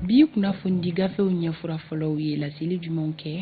bi kunnafonidi gafew ɲɛfura fɔlɔw ye laseli jumɛnw kɛ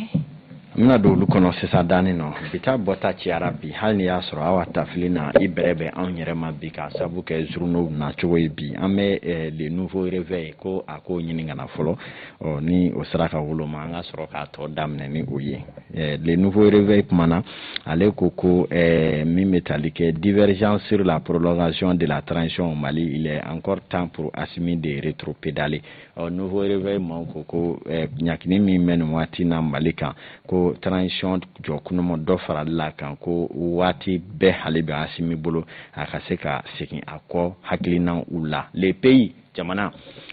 n bɛna don olu kɔnɔ sisan danni nɔ bi taa bɔta ciyara bi hali ni y'a sɔrɔ aw ka tafili na i bɛrɛ bɛ anw yɛrɛ ma bi k'a sabu kɛ journaux na cogo ye bi an bɛ eh, le nouveau réveil ko a k'o ɲini ka na fɔlɔ ɔ ni o sera ka woloma an ka sɔrɔ k'a tɔ daminɛ ni o ye eh, le nouveau réveil kumana ale ko ko eh, min bɛ tali kɛ divergence sur la prolongation de la transition au Mali il est encore temps pour Assimi de rétropédaler ɔ nouveau réveil maaw ko ko eh, ɲakini min bɛ nin waati na Mali kan ko transition jɔ kunama dɔ farali la kan ko waati bɛ hali bi Assimi bolo a ka se ka segin a kɔ hakilinaw la le pays jamana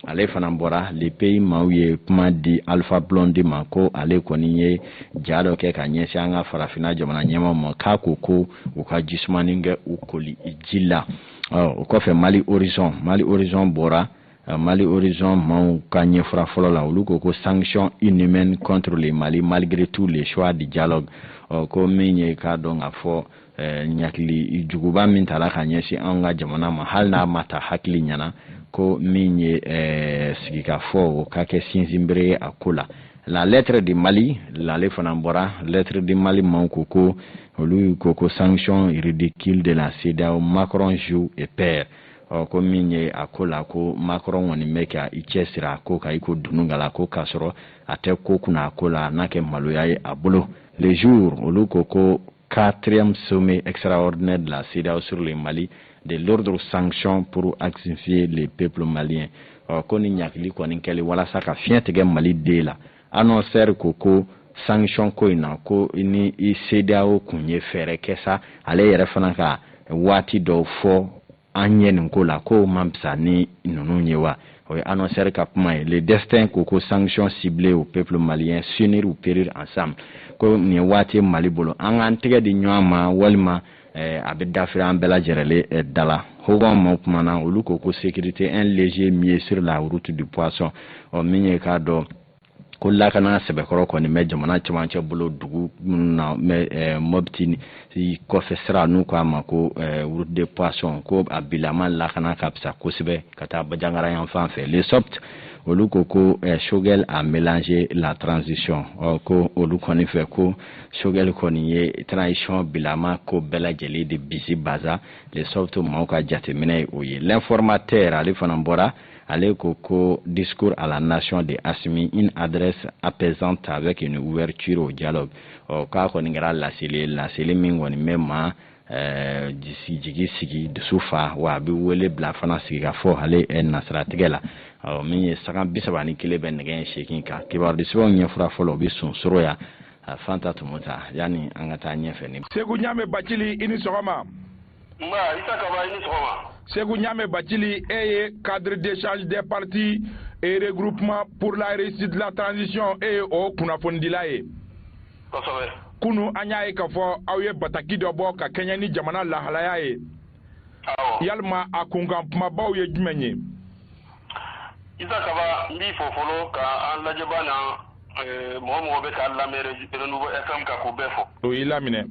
ale fana bɔra le pays maaw ye kuma di Alpha Blondy ma ko ale kɔni ye ja dɔ kɛ ka ɲɛsin an ka farafinna jamana ɲɛmaaw ma k'a ko ko u ka jisumanin kɛ u koli ji la o kɔfɛ mali horizon mali horizon bɔra mali horizon maaw ka ɲɛfura fɔlɔ la olu ko ko sanction inhumaine contre le mali malgré tout le choix du dialogue ko min ye k'a dɔn k'a fɔ ɲakili juguba min tala ka ɲɛsin an ka jamana ma hali n'a ma ta hakili ɲɛna ko min ye sigikafɔ o ka kɛ sinsinbere ye a ko la la lettre du mali ale fana bɔra lettre du mali maaw ko ko olu ko ko sanction ridicule de la cedeao macron joue et perd ɔ ko min ye a ko la ko macron kɔni bɛ ka i cɛsiri a ko ka i ko dunu gala ko k'a sɔrɔ a tɛ ko kunna a ko la na kɛ maloya ye a bolo le jour olu ko ko quatrième sommet extraordinaire de la CEDEAO sur le Mali de lourdes sanctions pour asphyxier le peuple malien ɔ ko nin ɲakili kɔni kɛli walasa ka fiɲɛ tigɛ malidenw la annonceur ko ko sanction ko in na ko ni CEDEAO kun ye fɛɛrɛ kɛ sa ale yɛrɛ fana ka waati dɔw fɔ an ye nin ko la k'o man fisa ni ninnu ye wa o ye annonceur ka kuma ye le destin ko ko sanction ciblée au peuple malien s'unir ou périr ensemble ko nin ye waati mali bolo an k'an tɛgɛ di ɲɔgɔn ma walima eh, a bɛ dafiri an bɛɛ lajɛrɛlen eh, da la hogon maaw kumana olu ko ko sécurité un léger mieux sur la route du poisson ɔ min ye k'a dɔn ko lakana sɛbɛkɔrɔ kɔni bɛ jamana cɛmancɛ bolo dugu minnu na eh, Mopti kɔfɛ sira n'u k'a ma ko eh, route de poisson ko a bilama lakana ka fisa kosɛbɛ ka taa bajangara yan fan fɛ le soft olu ko ko eh, Choguel a mélangé la transition ɔ ko olu kɔni fɛ ko Choguel kɔni ye transition bilama ko bɛɛ lajɛlen de bisibasa le soft maaw ka jateminɛ ye o ye l'informateur ale fana bɔra ale ko ko discours à la nation de Assimi une adresse apaisante avec une ouverture au dialogue ɔ k'a kɔni kɛra laseli laseli min kɔni bɛ maa Eh, jigi sigi dusu fa wa a bɛ wele bila fana sigi ka fɔ ale eh, nasiratigɛ la min ye sanga bi saba ni kelen bɛ nɛgɛ ɲɛ seegin kan kibaruya sɛbɛnw ɲɛfura fɔlɔ o bɛ sonsoro yan fanta tun ta yanni an ka taa ɲɛfɛ ni. segu ɲaamɛ bacili i ni sɔgɔma. segu ɲame bacili e ye cadre d'échange des partis et regroupement pour la réussite de la transition e ye o kunnafonidila ye kosɛbɛ kunu an y'a ye k'a fɔ aw ye bataki dɔ bɔ ka kɛɲɛ ni jamana lahalaya ye yalima a kunkan kumabaw ye jumɛn ye isa kaba n b'i fo fɔlɔ ka an lajɛbaa ni eh, mɔgɔ mɔgɔ bɛ k'an lamɛn renouveau fm kan k'u bɛɛ fo u y'i laminɛ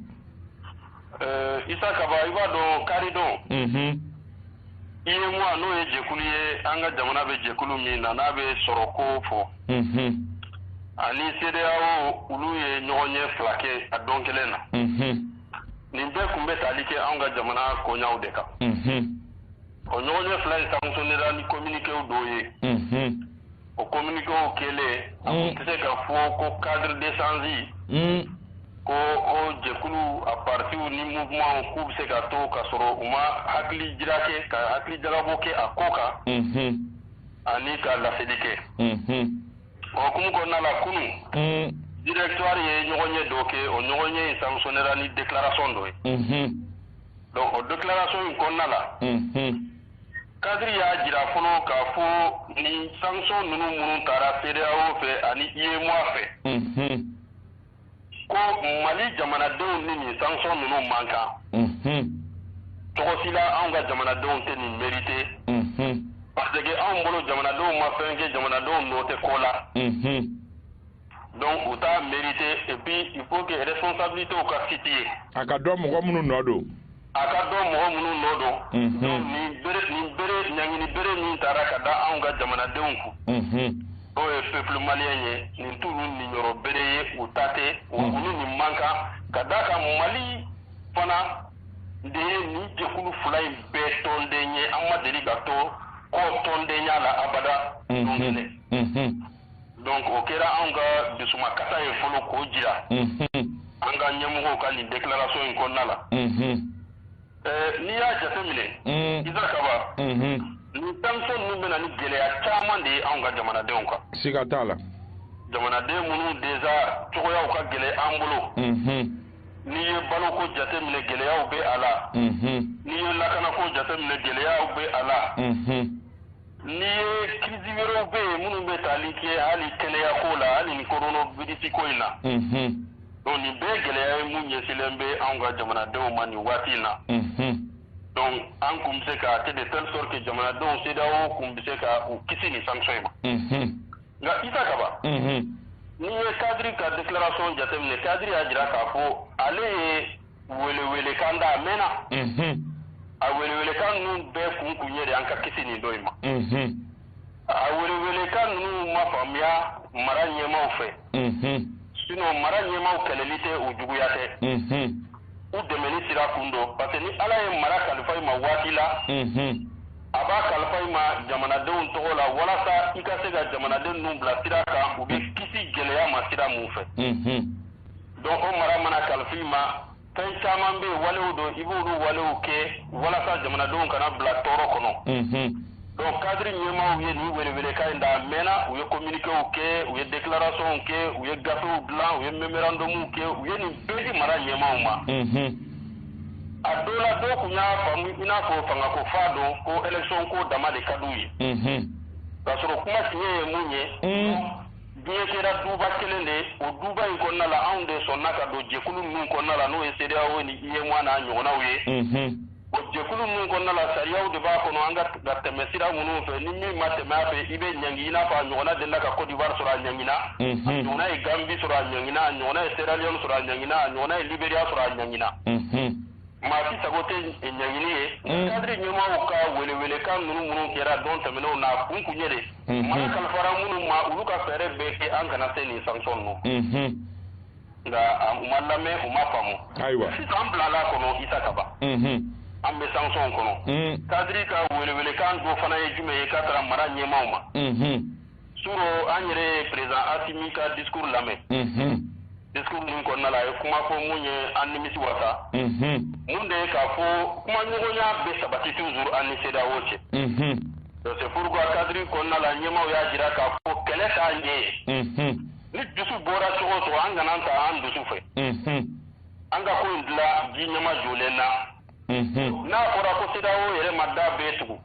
Ɛɛ isa kaba i b'a dɔn karidon UEMOA n'o ye jɛkulu ye an ka jamana bɛ jɛkulu min na n'a bɛ sɔrɔ kofɔ ani CEDEAO olu ye ɲɔgɔnye fila kɛ a don kelen na nin bɛɛ kun bɛ tali kɛ an ka jamana koɲaw de kan o ɲɔgɔnye fila in sanctionnera ni communiquéw dɔw ye O communiquéw kɛlen a kun tɛ se ka fɔ ko cadre d'échange ko o jɛkulu a partiw ni mouvementw k'u bɛ se ka to ka sɔrɔ u ma hakili jira kɛ ka hakili jagabɔ kɛ a ko kan ani ka laseli kɛ o hukumu kɔnɔna la kunun directoire ye ɲɔgɔnye dɔ kɛ o ɲɔgɔnye in sanctionnera ni déclaration dɔ ye donc o déclaration in kɔnɔna la cadre y'a jira fɔlɔ k'a fɔ nin sanction ninnu minnu taara CEDEAO fɛ ani UEMOA fɛ ko Mali jamanadenw ni nin sanction ninnu man kan cogo si la anw ka jamanadenw tɛ nin mérité parce que anw bolo jamanadenw ma fɛn kɛ jamanadenw nɔ tɛ ko la donc u t'a mérité et puis il faut que responsabilités ka situer a ka dɔn mɔgɔ minnu nɔ don a ka dɔn mɔgɔ minnu nɔ don nin bere ɲangini bere min taara ka da anw ka jamanadenw kun n'o ye peuple malien ye nin t'olu niyɔrɔ bere ye u ta tɛ u ni nin man kan ka d'a kan mali fana de ye nin jɛkulu fila in bɛɛ tɔnden ye an ma deli ka to kɔ tɔndenya la abada donc o kɛra anw ka dusumakasa ye fɔlɔ k'o jira an ka ɲɛmɔgɔw ka nin déclaration in kɔnɔna la n'i y'a jateminɛ isa kaba nin sanction ninnu bɛna ni gɛlɛya caman de ye anw ka jamanadenw kan siga t'a la jamanaden minnu déjà cogoyaw ka gɛlɛn an bolo n'i ye baloko jateminɛ gɛlɛyaw bɛ a la n'i ye lakanako jateminɛ gɛlɛyaw bɛ a la Ni ye crise wɛrɛw bɛ yen minnu bɛ taali kɛ hali kɛnɛya ko la hali ni coronavirus ko in na donc nin bɛɛ gɛlɛya ye minnu ɲɛsinlen bɛ anw ka jamanadenw ma nin waati in na donc an tun bɛ se ka a kɛ de telle sorte que jamanadenw CEDEAO tun bɛ se ka u kisi nin sanction in ma nka isa kaba n'i ye kadiri ka déclaration jateminɛ kadiri y'a jira k'a fɔ ale ye welewelekan da a mɛɛnna a welewelekan ninnu bɛɛ kun kun ye de an ka kisi nin don in ma a welewelekan ninnu ma faamuya mara ɲɛmaw fɛ sinon mara ɲɛmaw kɛlɛli tɛ u juguya tɛ u dɛmɛni sira kun don parce que ni ala ye mara kalifa i ma waati la a b'a kalifa i ma jamanadenw tɔgɔ la walasa i ka se ka jamanaden ninnu bila sira kan u bɛ kisi gɛlɛya ma sira mun fɛ donc o mara mana kalifa i ma fɛn caman bɛ yen walew don i b'olu walew kɛ walasa jamanadenw kana bila tɔɔrɔ kɔnɔ donc kadiri ɲɛmaaw ye nin welewelekan in da a mɛɛnna u ye communiquéw kɛ u ye déclarationw kɛ u ye gafew dilan u ye memorandumw kɛ u ye nin bɛɛ di mara ɲɛmaaw ma a dɔ la dɔw tun y'a faamu i n'a fɔ fangako fa don ko élection ko dama de ka di u ye k'a sɔrɔ kuma tiɲɛ ye mun ye diɲɛ kɛra duba kelen de o duba in kɔnɔna la anw de sɔnna ka don jɛkulu ninnu kɔnɔna la n'o ye CEDEAO ni UEMOA n'a ɲɔgɔnnaw ye o jɛkulu ninnu kɔnɔna la sariyaw de b'a kɔnɔ an ka ka tɛmɛ sira minnu fɛ ni min ma tɛmɛ a fɛ i bɛ ɲangi i n'a fɔ a ɲɔgɔnna delila ka Cote d'Ivoire sɔrɔ a ɲangina a ɲɔgɔnna ye Gambie sɔrɔ a ɲangina a ɲɔgɔnna ye Sierra Leone sɔrɔ a ɲangina a ɲɔgɔnna ye Liberia sɔrɔ a ɲangina maa si sago tɛ ɲangini ye mm. kadiri ɲɛmaaw ka welewelekan ninnu minnu kɛra don tɛmɛnenw na kun kun ye de mm-hmm. mara kalifara minnu ma olu ka fɛɛrɛ bɛɛ kɛ an kana se nin sanction ninnu mm-hmm. nka u ma lamɛn u ma faamu ayiwa sisan an bilala a kɔnɔ isa kaba mm-hmm. an bɛ sanction kɔnɔ mm. kadiri ka welewelekan dɔ fana ye jumɛn ye ka taara mara ɲɛmaaw ma suro an yɛrɛ ye perezan asimi ka discours lamɛn discours min kɔnɔna la a ye kuma fɔ min ye an nimisi wasa min de ye k'a fɔ kumaɲɔgɔnya bɛ sabati toujours an ni CEDEAO cɛ donc c'est pourquoi cadre kɔnɔna la ɲɛmaaw y'a jira k'a fɔ kɛlɛ t'a ɲɛ ni dusu bɔra cogo o cogo an kana taa an dusu fɛ an ka ko in dilan ji ɲɛmajɔlen na n'a fɔra ko CEDEAO yɛrɛ ma da bɛɛ tugu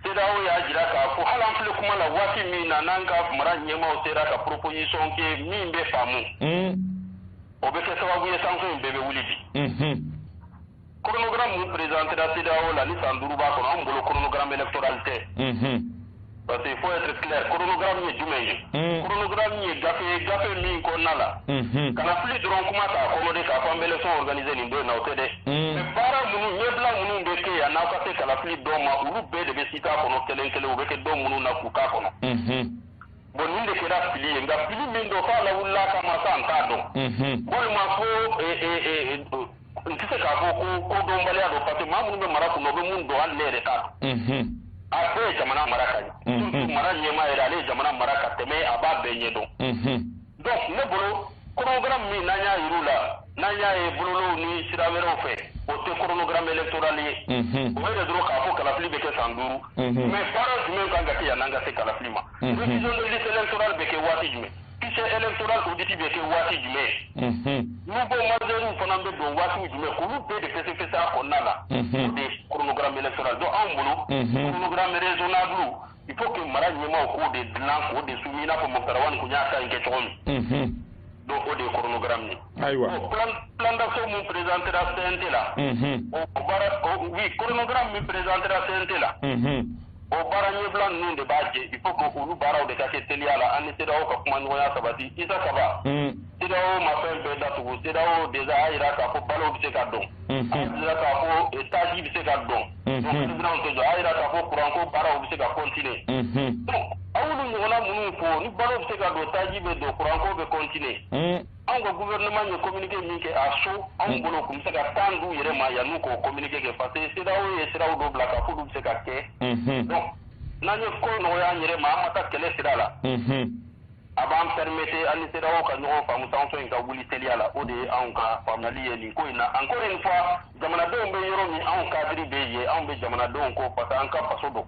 CEDEAO y'a jira k'a fɔ hali an filɛ kuma la waati min na n'an ka mara ɲɛmaaw sera ka proposition kɛ min bɛ faamu o bɛ kɛ sababu ye sanction in bɛɛ bɛ wuli bi chronogramme min présentéra CEDEAO la ni san duuru b'a kɔnɔ anw bolo chronogramme électoral tɛ Parce que il faut être clair, chronogramme ye jumɛn ye? Mm. Chronogramme ye gafe ye gafe min kɔnɔna la. Mm-hmm. Kalafili dɔrɔn kuma t'a kɔnɔ dɛ k'a fɔ an bɛ élection organiser nin don in na o tɛ dɛ. Mm. Mais baara minnu ɲɛbila minnu bɛ kɛ yan'aw ka se kalafili don ma olu bɛɛ de bɛ citer a kɔnɔ kelen kelen u bɛ kɛ don minnu na k'u k'a kɔnɔ. Mm-hmm. Bon nin de kɛra fili ye nka fili min don f'a lawulila kama sa an t'a dɔn. Mm-hmm. Bon ne m'a fɔ ee ee ee n tɛ se k'a fɔ ko kodɔnbaliya don parce que maa minnu bɛ mara kun na o bɛ mun dɔn hali ne yɛrɛ t'a dɔn a bɛɛ ye jamana mara ka surtout mara ɲɛmaa yɛrɛ ale ye jamana mara ka tɛmɛ a b'a bɛɛ ɲɛ dɔn donc ne bolo chronogramme min n'an y'a yir'u la n'an y'a ye bɔlɔlɔw ni sira wɛrɛw fɛ o tɛ chronogramme électoral ye o bɛ de dɔrɔn k'a fɔ kalafili bɛ kɛ san duuru mais baara jumɛn kan ka kɛ yan'an ka se kalafili ma révision de liste électorale bɛ kɛ waati jumɛn Kise e tora ko diki bɛ kɛ waati jumɛn n'u ko mɔdenw fana bɛ don waati jumɛn olu bɛ de kɛ kɛ taa kɔnɔna la de kurukura minɛ sɔrɔ don anw bolo kurukura mɛnzoninabu i ko kɛ mara ɲɛmaw k'o de dilan k' de su ɲɛna ko mɔgɔkarawa tun y'a ka kɛ cogo min don o de ye kurukura minɛ ayiwa kɔntanso min prezantera fɛn tɛ la o kɔnɔnkura min prezantera fɛn tɛ la o baara ɲɛbila ninnu de b'a jɛ il faut que olu baaraw de ka kɛ teliya la an ni CEDEAO ka kumaɲɔgɔnya sabati Isa Kaba CEDEAO ma fɛn bɛɛ datugu CEDEAO déjà y'a jira k'a fɔ balo bɛ se ka don a y'a jira k'a fɔ taji bɛ se ka don donc usine tɛ jɔ a y'a jira k'a fɔ kuranko baaraw bɛ se ka continuer donc aw y'olu ɲɔgɔnna minnu fɔ ni balo bɛ se ka don taji bɛ don kuranko bɛ continuer anw ka gouvernement ye communiqué min kɛ à chaud anw mm. bolo tun bɛ se ka temps d'u yɛrɛ ma yan'u k'o communiqué kɛ parce que CEDEAO ye siraw dɔ bila k'a f'olu bɛ se ka kɛ mm-hmm. donc n'an ye ko nɔgɔya an yɛrɛ ma an ma taa kɛlɛ sira la mm-hmm. a b'an permettre an ni CEDEAO ka ɲɔgɔn faamu sanction in ka wuli teliya la o de ye anw ka faamuyali ye nin ko in na encore une fois jamanadenw bɛ yɔrɔ min anw cadre bɛ yen anw bɛ jamanadenw kɔ parce que an ka faso don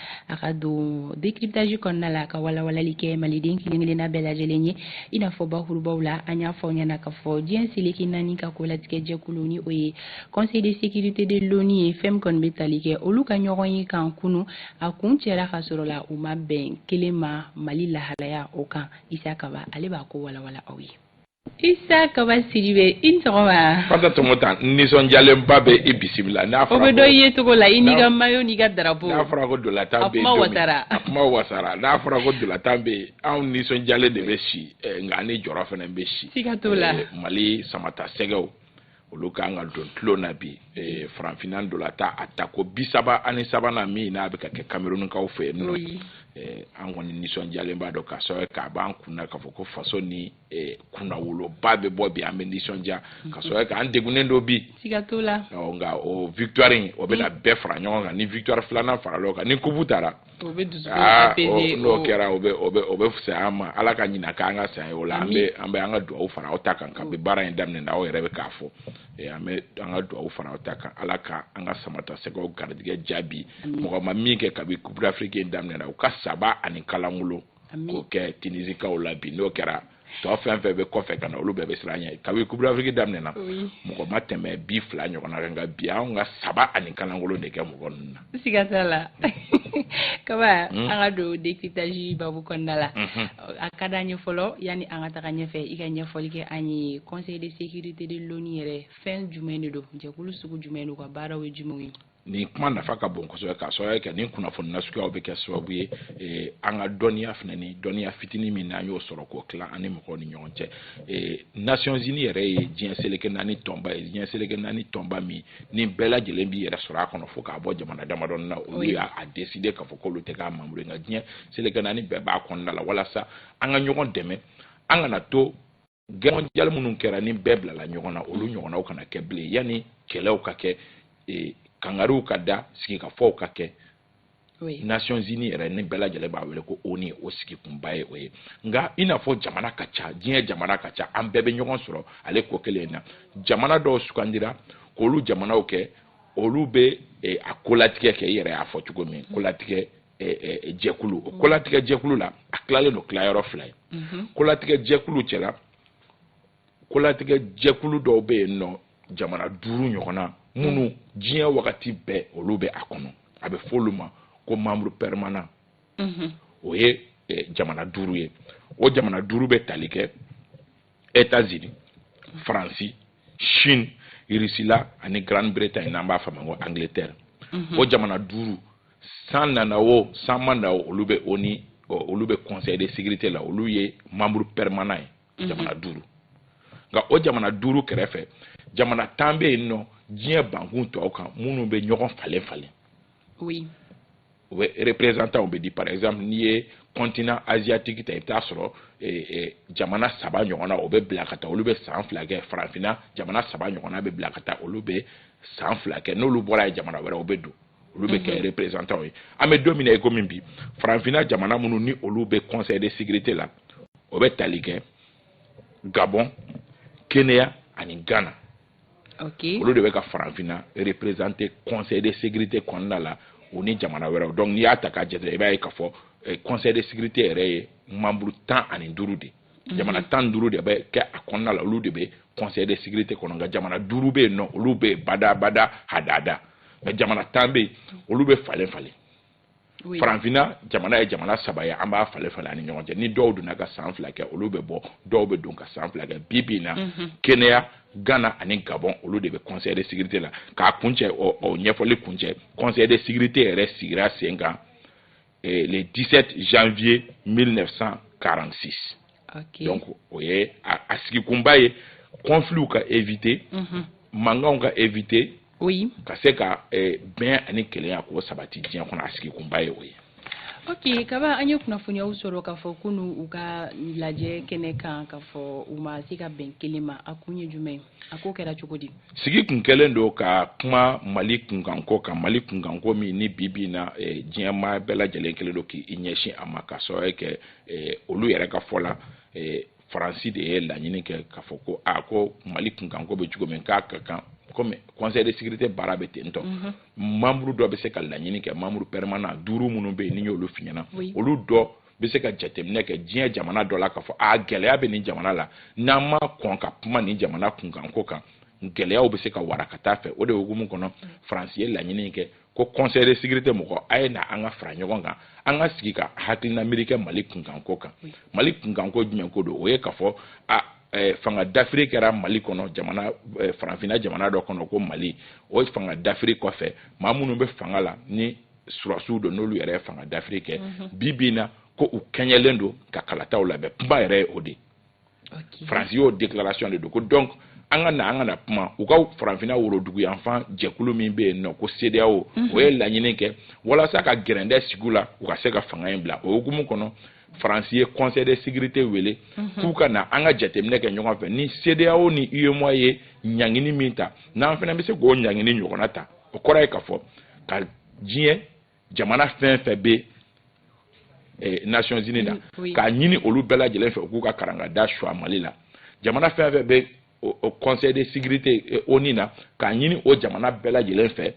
a ka don décryptage kɔnɔna la ka walawalali kɛ maliden kelen-kelenna bɛɛ lajɛlen ye i n'a fɔ bakurubaw la an y'a fɔ aw ɲɛna k'a fɔ diɲɛ seleke naani ka kolatigɛ jɛkulu ni o ye conseil de sécurité de l'ONU ye fɛn min kɔni bɛ tali kɛ olu ka ɲɔgɔnye kan kunu a kuncɛra k'a sɔrɔ la u ma bɛn kelen ma mali lahalaya o kan isa kaba ale b'a ko walawala aw ye Isa Kaba Sidibe i ni sɔgɔma. Fanta Tomota n nisɔndiyalenba bɛ i bisimila. N'a fɔra ko. O bɛ dɔn i yecogo la i n'i ka maillot n'i ka drapeau. N'a fɔra ko ntolatan bɛ yen don min. A kuma wasara. A kuma wasara n'a fɔra ko ntolatan bɛ yen anw nisɔndiyalen de bɛ si nka an ni jɔrɔ fana bɛ si. Siga t'o la. Mali samatasɛgɛw olu ka kan ka don tulon na bi farafinna ntolatan a tako bi saba ani sabanan min n'a bɛ ka kɛ kamerunkaw fɛ yen nɔ an kɔni nisɔndiyalen b'a dɔn k'a sɔrɔ k'a b'an kun na k'a fɔ ko faso ni eh, kunnawoloba bɛ bɔ bi an bɛ nisɔndiya k'a sɔrɔ k'an degunnen don bi nka o victoire in o bɛna bɛɛ fara ɲɔgɔn kan ni victoire filanan farala o kan ni kupu taara ah, n'o kɛra o bɛ o bɛ o bɛ fisaya an ma ala ka ɲina k'an ka saya o la an bɛ an bɛ an ka dugawu fara aw ta kan kabini baara in daminɛna aw yɛrɛ bɛ k'a fɔ eh, an bɛ an ka dugawu fara aw ta kan ala ka an ka samatasɛgɛw garijɛgɛ jaabi mɔgɔ ma min kɛ kabini coupe d'afrique in daminɛna u ka saba ani kalankolon k'o kɛ tinisikaw la bi n'o kɛra tɔ fɛn fɛn bɛ kɔfɛ ka na olu bɛɛ bɛ siran ɲɛ kabini coupe d'afrique daminɛna mɔgɔ ma tɛmɛ bi fila ɲɔgɔnna kan nka bi an ka saba ani kalankolon de kɛ mɔgɔ ninnu na. siga t'a la kaba hmm? an ka don décryptage babu kɔnɔna la hmm. a ka d'an ye fɔlɔ yanni an ka taga ɲɛfɛ i ka ɲɛfɔli kɛ an ye conseil de sécurité de l'ONU yɛrɛ fɛn jumɛn de don jɛkulu sugu jumɛn don ka baaraw ye jumɛnw ye. nin kuma nafa ka bon kosɛbɛ k'a sababuya kɛ nin kunnafoni nasuguyaw bɛ kɛ sababu ye eh, an ka dɔnniya fana ni dɔnniya fitinin min n'an y'o sɔrɔ k'o tila an ni mɔgɔw ni ɲɔgɔn cɛ eh, nations unies yɛrɛ ye diɲɛ seleke naani tɔnba ye diɲɛ seleke naani tɔnba min ni bɛɛ lajɛlen b'i yɛrɛ sɔrɔ a kɔnɔ fo k'a bɔ jamana damadɔni na olu y'a a décider k'a fɔ k'olu tɛ k'a membre nka diɲɛ seleke naani bɛɛ b'a kɔnɔna la walasa an ka ɲɔgɔn dɛmɛ an kana to guerre mondiale minnu kɛra ni bɛɛ bilala ɲɔgɔn na olu ɲɔgɔnnaw kana kɛ bilen yanni kɛlɛw ka kɛ e, kangariw ka da sigikafɔw ka kɛ nations unies yɛrɛ ni bɛɛ lajɛlen b'a wele ko ONU o sigikunba ye o ye nka i n'a fɔ jamana ka ca diɲɛ jamana ka ca an bɛɛ bɛ ɲɔgɔn sɔrɔ ale ko kelen in na jamana dɔw sugandira k'olu jamanaw kɛ olu bɛ e, a kolatigɛ kɛ i yɛrɛ y'a fɔ cogo min kolatigɛ jɛkulu o kolatigɛ jɛkulu la a tilalen don tilayɔrɔ fila ye mhm. kolatigɛ jɛkulu cɛla kolatigɛ jɛkulu dɔw bɛ yen nɔ jamana duuru ɲɔgɔnna minnu mhm. diɲɛ wagati bɛɛ olu bɛ a kɔnɔ a bɛ fɔ olu ma ko membre permanent mhm. o ye jamana duuru ye o jamana duuru bɛ tali kɛ etazini faransi chine irisila ani grande bretagne n'an b'a fɔ a ma ko angleterre mhm. o jamana duuru san nana o san ma na o olu bɛ ONU olu bɛ conseil de sécurité la olu ye membre permanent ye mhm. jamana duuru nka o jamana duuru kɛrɛfɛ jamana tan bɛ yen nɔ diɲɛ bankun tɔw kan minnu bɛ ɲɔgɔn falen falen oui u bɛɛ représentant bɛ di par exemple n'i ye continent asiatique ta i bɛ taa sɔrɔ eh, eh, jamana saba ɲɔgɔnna o bɛ bila ka taa olu bɛ san fila kɛ farafinna jamana saba ɲɔgɔnna bɛ bila ka taa olu bɛ san fila kɛ n'olu bɔra yen jamana wɛrɛw bɛ don olu bɛ kɛ mhm. représentant ye an bɛ don min na ikomi bi farafinna jamana minnu ni olu bɛ conseil de sécurité la o bɛ tali kɛ gabon kenya ani ghana okay. olu de bɛ ka farafinna représenter conseil de sécurité kɔnɔna la o ni jamana wɛrɛw donc n'i y'a ta k'a jate i b'a ye k'a fɔ eh, conseil de sécurité yɛrɛ ye membre tan ani duuru de mhm. jamana tan duuru de bɛ kɛ a kɔnɔna la olu de bɛ conseil de sécurité kɔnɔ nka jamana duuru bɛ yen nɔ olu bɛ badabada hadada mais jamana tan bɛ yen olu bɛ falen falen faranfinna jamana ye jamana saba ye an b'a falen falen an ni ɲɔgɔn cɛ ni dɔw donna ka san fila kɛ olu bɛ bɔ dɔw bɛ don ka san fila kɛ bi bi na mhm. kenya ghana ani gabɔn olu de bɛ conseil de sécurité la k'a kuncɛ o ɲɛfɔli kuncɛ conseil de sécurité yɛrɛ sigira sen kan eh, le 17 janvier 1946 okay. donc o ye a sigikunba ye conflitw ka éviter mhm. mankanw ka éviter oui ka se ka eh, bɛn ani kelenya k'o sabati diɲɛ kɔnɔ a sigi kunba ye o ye ok kaba an ye kunnafoniyaw sɔrɔ k'a fɔ kunu u ka lajɛ kɛnɛ kan k'a fɔ u ma se ka bɛn kelen ma a kun ye jumɛn a ko kɛra cogo di sigi kun kɛlen don ka kuma mali kunkanko kan mali kunkanko min ni bi bi na eh, diɲɛ maa bɛɛ lajɛlen kelen don k'i ɲɛsin a ma ka sababu kɛ eh, olu yɛrɛ ka fɔ la eh, faransi de ye laɲini kɛ k'a fɔ ko a ko mali kunkanko bɛ cogo min k'a ka kan komi conseil de sécurité baara bɛ ten tɔ mhm. membre dɔ bɛ se ka laɲini kɛ membre permanent duuru minnu bɛ yen ne y'olu f'i ɲɛna olu dɔ bɛ se ka jateminɛ kɛ diɲɛ jamana dɔ la k'a fɔ a gɛlɛya bɛ nin jamana la n'an ma kɔn ka kuma nin jamana kunkanko kan gɛlɛyaw bɛ se ka wara ka taa fɛ o de hukumu kɔnɔ faransi ye laɲini kɛ ko conseil de sécurité mɔgɔ a ye na an ka fara ɲɔgɔn kan an ka sigi ka hakilina miiri kɛ mali kunkanko kan mali kunkanko jumɛn ko don o ye k'a fɔ a eh, fanga dafiri kɛra mali kɔnɔ jamana eh, faranfina jamana dɔ kɔnɔ ko mali o fanga dafiri kɔfɛ maa minnu bɛ fanga la ni sɔrɔdasiw don n'olu yɛrɛ ye fanga dafiri kɛ mhm. bi bi in na ko u kɛɲɛlen don ka kalataw labɛn kunba yɛrɛ ye o de ye okay. faransi y'o déclaration de don ko donc an ka na an ka na kuma u ka faranfina woroduguyanfan jɛkulu min bɛ yen nɔ ko CEDEAO mhm. o ye laɲini kɛ walasa ka gɛrɛntɛ sigi u la u ka se ka fanga in bila o hukumu kɔnɔ faransi ye conseil de sécurité wele mhm. k'u ka na an ka jateminɛ kɛ ɲɔgɔn fɛ ni CEDEAO ni UEMOA ye ɲangini min ta n'an fana bɛ se k'o ɲangini ɲɔgɔnna ta o kɔrɔ ye k'a fɔ ka diɲɛ jamana fɛn fɛn bɛ eh, nations unies na k'a ɲini olu bɛɛ lajɛlen fɛ u k'u ka karangada suwa mali la jamana fɛn fɛn bɛ o conseil de sécurité eh, ONU na k'a ɲini o jamana bɛɛ lajɛlen fɛ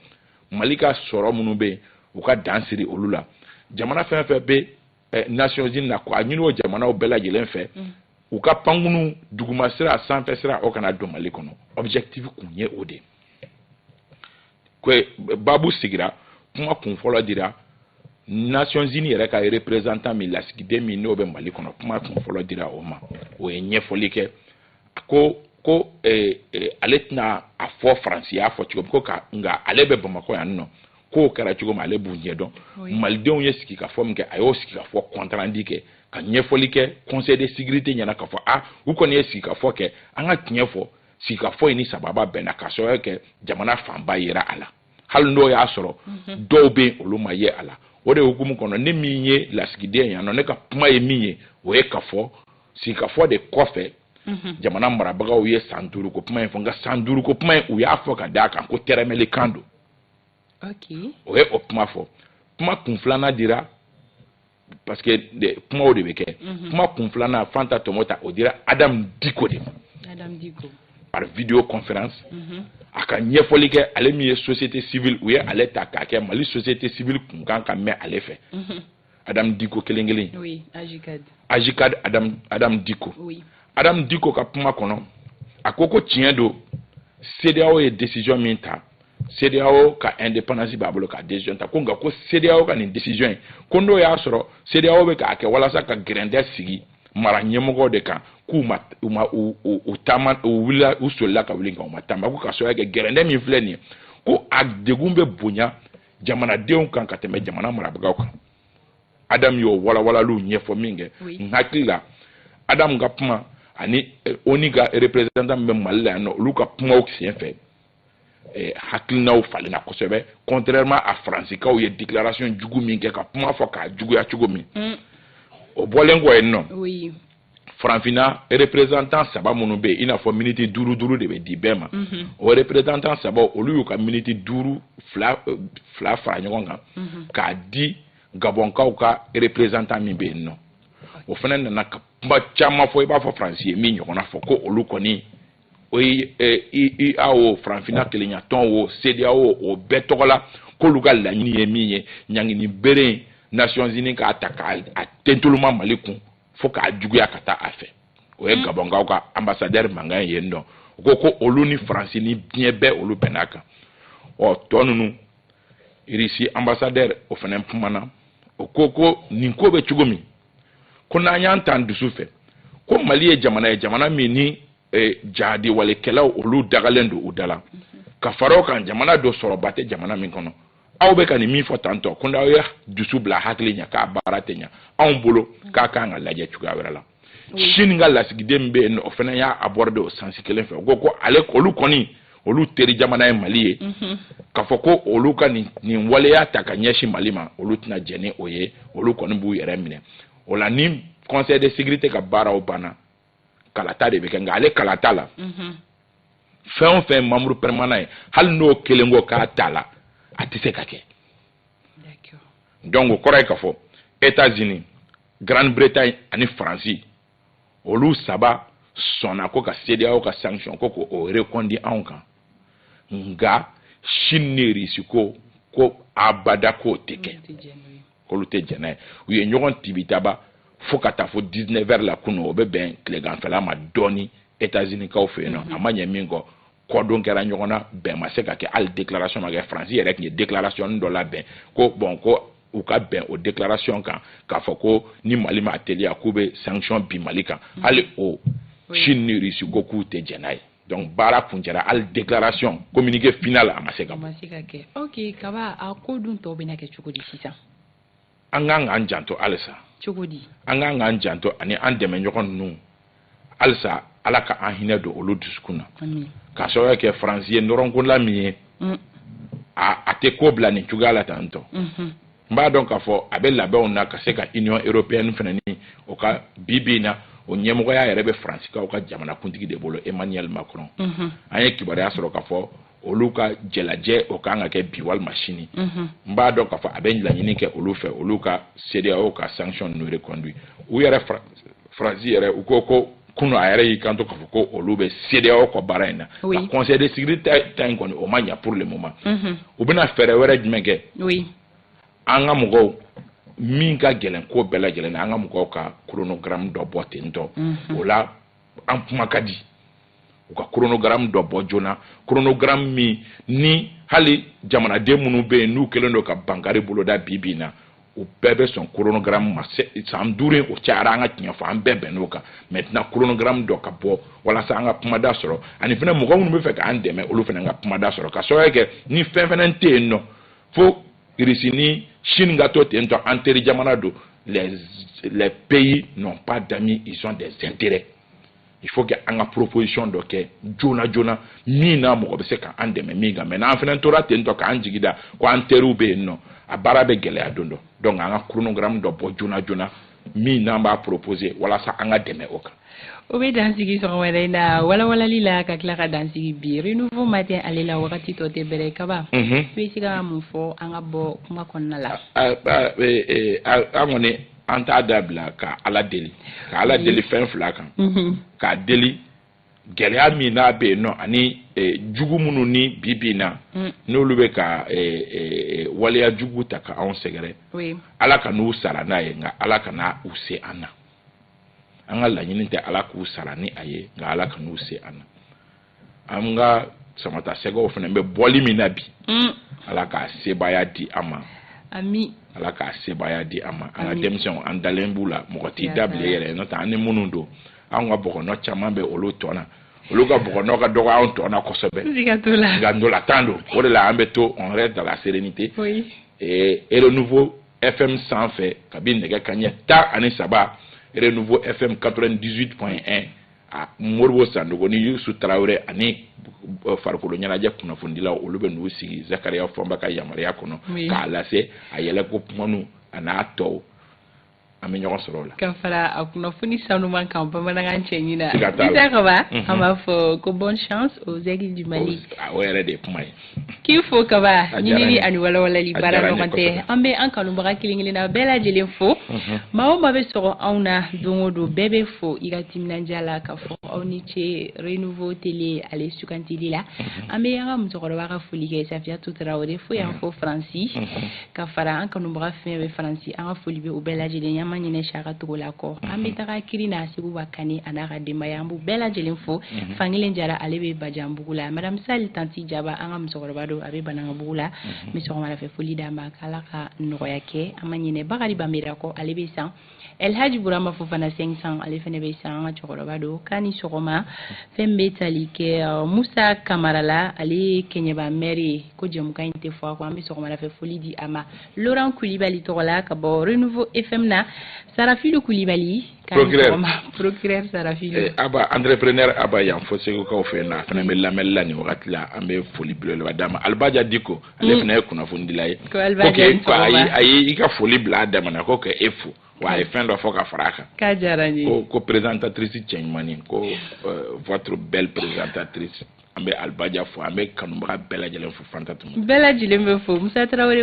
mali ka sɔrɔ minnu bɛ yen u ka dan siri olu la jamana fɛn fɛn bɛ eh, nations unies na ko a ɲini o jamanaw bɛɛ lajɛlen fɛ mm. u ka pankunu duguma sira sanfɛ sira o kana don mali kɔnɔ objectif kun ye o de ye babu sigira kuma kun fɔlɔ dira nations unies yɛrɛ ka représentant min lasigiden min n'o bɛ mali kɔnɔ kuma kun fɔlɔ dira o ma o ye ɲɛfɔli kɛ ko ko eh, eh, ale tɛna a fɔ faransi y'a fɔ cogo min ko ka nka ale bɛ bamakɔ yan nɔ k'o kɛra cogo min ale b'u ɲɛ dɔn malidenw ye sigikafɔ min kɛ a y'o sigikafɔ compte rendu kɛ ka ɲɛfɔli kɛ conseil de sécurité ɲɛna k'a fɔ a ah, u kɔni ye sigikafɔ kɛ an ka tiɲɛ fɔ sigikafɔ in ni sababa bɛnna ka sababuya kɛ jamana fanba yera a la hali n'o y'a sɔrɔ mhm. dɔw bɛ yen olu ma ye a la o de hukumu kɔnɔ ne min ye lasigiden yan nɔ ne ka kuma ye min ye o ye k'a fɔ sigikafɔ de kɔfɛ mhm. jamana marabagaw ye san duuru ko kuma in fɔ nka san duuru ko kuma in u y'a fɔ ka d'a kan ko tɛrɛmɛlikan don o ye o kuma fɔ kuma kun filanan dira parce que kumaw de bɛ kɛ mhm. kuma kun filanan fanta tomota o dira adam diko de ma par vidéo conférence mhm. a ka ɲɛfɔli kɛ ale min ye société civile u ye ale ta k'a kɛ mali société civile kunkan ka mɛn ale fɛ mhm. Adam Diko kelen kelen. Oui, AJCAD. AJCAD Adam Adam Diko. Oui. Adam Diko ka kuma kɔnɔ, a ko ko tiɲɛ don CEDEAO ye décision min ta, CEDEAO ka indépendance b'a bolo ka décision ta ko nka ko CEDEAO ka nin décision in ko n'o y'a sɔrɔ CEDEAO bɛ k'a kɛ walasa ka gɛrɛndɛ sigi mara ɲɛmɔgɔw de kan k'u ma u ma u u u taama u wulila u solila ka wuli nka u ma taama ko ka sababuya kɛ gɛrɛndɛ min filɛ nin ye ko a degun bɛ bonya jamanadenw kan ka tɛmɛ jamana marabagaw kan adamu y'o walawalaliw ɲɛfɔ min kɛ n hakili la adamu ka kuma ani eh, onu ka représentant min bɛ mali la yan nɔ olu ka kumaw sen fɛ eh, hakilinaw falenna kosɛbɛ contrairement à faransikaw ye déclaration jugu min kɛ ka kuma fɔ k'a juguya cogo min mm. o bɔlen kɔ yen nɔ farafinna représentant saba minnu bɛ yen i n'a fɔ miniti duuru duuru de bɛ di bɛɛ ma mhm. o représentant saba olu y'u ka miniti duuru fila euh, fila fara ɲɔgɔn kan mhm. k'a di gabɔnkaw ka représentant min bɛ yen nɔ o fana nana ka kuma caman fɔ i b'a fɔ faransi ye min ɲɔgɔnna fɔ ko olu kɔni o ye ua o farafinna kelenyatɔn o cedeao o bɛɛ tɔgɔ la k'olu ka laɲini ye min ye ɲangini bere nations unies k'a ta k'a tentoloma mali kun fo k'a juguya ka taa a fɛ o ye hmm. gabɔnkaw ka anbasadɛri mankan ye yen nɔ o ko ko olu ni faransi ni diɲɛ bɛɛ olu bɛnn'a kan ɔ tɔ ninnu irisi anbasadɛri o fana kumana o ko ko nin ko bɛ cogo min ko n'an y'an tan dusu fɛ ko mali ye jamana ye jamana min ni e, jatigɛwalekɛlaw olu dagalen don u da la ka fara o kan jamana don sɔrɔba tɛ jamana min kɔnɔ aw bɛ ka nin min fɔ tan tɔ ko n'aw ye dusu bila hakili ɲɛ k'a baara tɛ ɲɛ anw bolo k'a kan ka lajɛ cogoya wɛrɛ la Chine ka lasigiden bɛ yen o fana y'a aborder o sens kelen fɛ o ko ko ale olu kɔni olu teri jamana ye mali ye mhm. k'a fɔ ko olu ka nin nin waleya ta ka ɲɛsin mali ma olu tɛna jɛn ni o ye olu kɔni b'u yɛrɛ minɛ o la ni conseil de sécurité ka baaraw banna kalata de bɛ kɛ nka ale kalata la mhm. fɛn o fɛn membre permanent ye hali n'o kelen ko k'a t'a la a tɛ se ka kɛ donc o kɔrɔ ye k'a fɔ États-Unis Grande Bretagne ani Faransi olu saba sɔnna ko ka CEDEAO ka sanction ko k'o reconduit anw kan nka Chine ni Russie ko ko abada k'o tɛ kɛ. olu tɛ jɛn n'a ye u ye ɲɔgɔn tibitaba fo ka taa fo 19 heures la kunu o bɛ bɛn tileganfɛla ma dɔɔni États-Unis-kaw fɛ yen nɔ mhm. a ma ɲɛ min kɔ kɔdon kɛra ɲɔgɔn na bɛn ma se ka kɛ hali déclaration ma kɛ France yɛrɛ tun ye déclaration dɔ labɛn ko bon ko u ka bɛn o déclaration kan k'a fɔ ko ni Mali ma teliya k'u bɛ sanction bin Mali kan mhm. hali o Chine ni Russie ko k'u tɛ jɛn n'a ye donc baara kuncɛra hali déclaration communiqué final a ma se ka bɔ. a ma se ka kɛ ok kaba a ko dun tɔw bɛna kɛ cogo di sisan. an kan k'an janto halisa. cogo di. an kan k'an janto ani an dɛmɛɲɔgɔn ninnu halisa ala ka an hinɛ don olu dusukun na. k'a sababuya kɛ faransi ye nɔrɔnkola min ye. Mm. a a tɛ ko bila nin cogoya la tan tɔ. n b'a dɔn k'a fɔ a bɛ labɛnw na ka se ka union européenne fana ni o ka bi bi in na o ɲɛmɔgɔya yɛrɛ bɛ faransikaw ka jamanakuntigi de bolo emmanuel macron mhm. an ye kibaruya sɔrɔ k'a fɔ olu ka jɛlajɛ o kan ka kɛ bi walima sini mhm. n b'a dɔn k'a fɔ a bɛ laɲini kɛ olu fɛ olu ka CEDEAO ka sanction ninnu reconduit u yɛrɛ faransi yɛrɛ u ko ko kunu a yɛrɛ y'i kanto k'a fɔ ko olu bɛ CEDEAO kɔ baara in na nka conseil de sécurité ta in kɔni o ma ɲa pour le moment mhm. u bɛna fɛɛrɛ wɛrɛ jumɛn kɛ an ka mɔgɔw min ka gɛlɛn ko bɛɛ lajɛlen na an ka mɔgɔw ka chronogramme dɔ bɔ ten tɔ mhm. o la an kuma ka di u ka chronogramme dɔ bɔ joona chronogramme min ni hali jamanaden minnu bɛ yen n'u kɛlen don ka bankari boloda bi bi in na u bɛɛ bɛ sɔn chronogramme ma san duuru o cayara an ka tiɲɛ fɔ an bɛɛ bɛnn'o kan maintenant chronogramme dɔ ka bɔ walasa an ka kumada sɔrɔ ani fana mɔgɔ minnu b'a fɛ k'an dɛmɛ olu fana ka kumada sɔrɔ k'a sababuya kɛ ni fɛn fana tɛ yen nɔ fo Russie ni chine ka to ten tɔ an teri jamana don les les pays n'ont pas d'amis ils ont des intérêts il faut que an ka proposition dɔ kɛ joona joona min na mɔgɔ bɛ se ka an dɛmɛ min kan mais n'an fana tora ten tɔ k'an jigi da ko an teriw bɛ yen nɔ a baara bɛ gɛlɛya don dɔ donc an ka chronogramme dɔ bɔ joona joona min n'an b'a proposer walasa an ka dɛmɛ o kan o bɛ dansigi sɔgɔma wɛrɛ in na walawalali la ka tila ka dansigi bi renouveau matin ale la wagati tɔ tɛ bɛrɛ kaba mhm. i bɛ se ka mun fɔ an ka bɔ kuma kɔnɔna la an kɔni an t'a dabila ka ala deli ka ala deli fɛn fila kan mhm. k'a deli gɛlɛya min n'a bɛ yen nɔ ani e, jugu minnu ni bi bi na mm. n'olu bɛ ka e, e, waleya jugu ta ka anw sɛgɛrɛ ala kan'u sara n'a ye nka ala kana u se an na an ka laɲini tɛ ala k'u sara ni a ye nka ala kan'u se an na an ka samatasɛgɛw fana bɛ bɔli min na bi mm. ala k'a sebaaya di an ma ami ala k'a sebaaya di an ma an ka denmisɛnw an dalen b'u la mɔgɔ t'i da bila yɛrɛ n'o tɛ an ni minnu don anw ka bugɔnɔ caman bɛ olu tɔn na olu ka bugɔnɔ ka dɔgɔ anw tɔn na kosɛbɛ nka ntolatan don o de la an bɛ to on reste dans la sérénité et renouveau fm sanfɛ kabi nɛgɛ kanɲɛ tan ani saba renouveau fm 98.1 a moribo sandogo ni yusu tarawele ani euh, farikolo ɲɛnajɛ kunnafonidilaw olu bɛ n'u sigi zakariya fɔnba ka yamaruya kɔnɔ k'a lase a yɛlɛko kumanu a n'a tɔw an bɛ ɲɔgɔn sɔrɔ o la ka fara a kunnafoni sanuman kan bamanankan cɛɲin na siga t'a la Isa Kaba Mhm. an b'a fɔ ko bonne chance aux aigles du Mali o o yɛrɛ de ye kuma ye k'i fo kaba A diyara n ye. ɲinini ani walawalali A baara diyara n ye ɲɔgɔn tɛ kosɛbɛ. an bɛ an kanubaga kelen kelenna bɛɛ lajɛlen fo Mhm. maa o maa bɛ sɔgɔ anw na don o don bɛɛ bɛ fo i ka timinandiya la k'a fɔ aw ni ce renouveau télé ale sugantili la an bɛ an ka musokɔrɔba ka foli kɛ safiyatu tarawele fo yan fo faransi ka fara an kanubaga fɛn bɛ faransi an ka foli bɛ u bɛɛ lajɛlen y'an ma ɲinɛ saka togola kɔ an bɛ taga kirina sekuba kane a n'a ka denbaya an b'u bɛɛ lajɛlen fo fankele jara ale bɛ bajanbugu la madame sali tanti jaba an ka musokɔrɔba don a bɛ banankabugu la n bɛ sɔgɔmadafɛ foli d'a ma k'ala ka nɔgɔya kɛ an ma ɲinɛ bakari banbera kɔ ale bɛ san elhaji burama fofana cinq cents ale fana bɛ san an ka cɛkɔrɔba don k'a ni sɔgɔma fɛn bɛ tali kɛ uh, musa kamara la ale ye kɛɲɛba mɛri ye ko jɛmukan in tɛ fɔ a kɔ an bɛ sɔgɔmada fɛ foli di a ma laurent kulibali tɔgɔ la ka bɔ renouveau fm na sarafilu kulibali procureur sarafilu eh, aba entrepreneur aba yan fo segukaw fɛ n'a fana bɛ lamɛnni la nin wagati la an bɛ foli belebeleba d'a ma alibaja diko ale mm. fana ye kunnafonidila ye ko a ye i ka foli bila a damana ko ka e fo wa a ye fɛn dɔ fɔ ka fara a kan k'a diyara n ye ko ko présentatrice cɛɲumanin ko euh, votre belle présentatrice an bɛ alibaja fo an bɛ kanubaga bɛɛ lajɛlen fo fanta tuma bɛɛ lajɛlen bɛ fo musa tarawele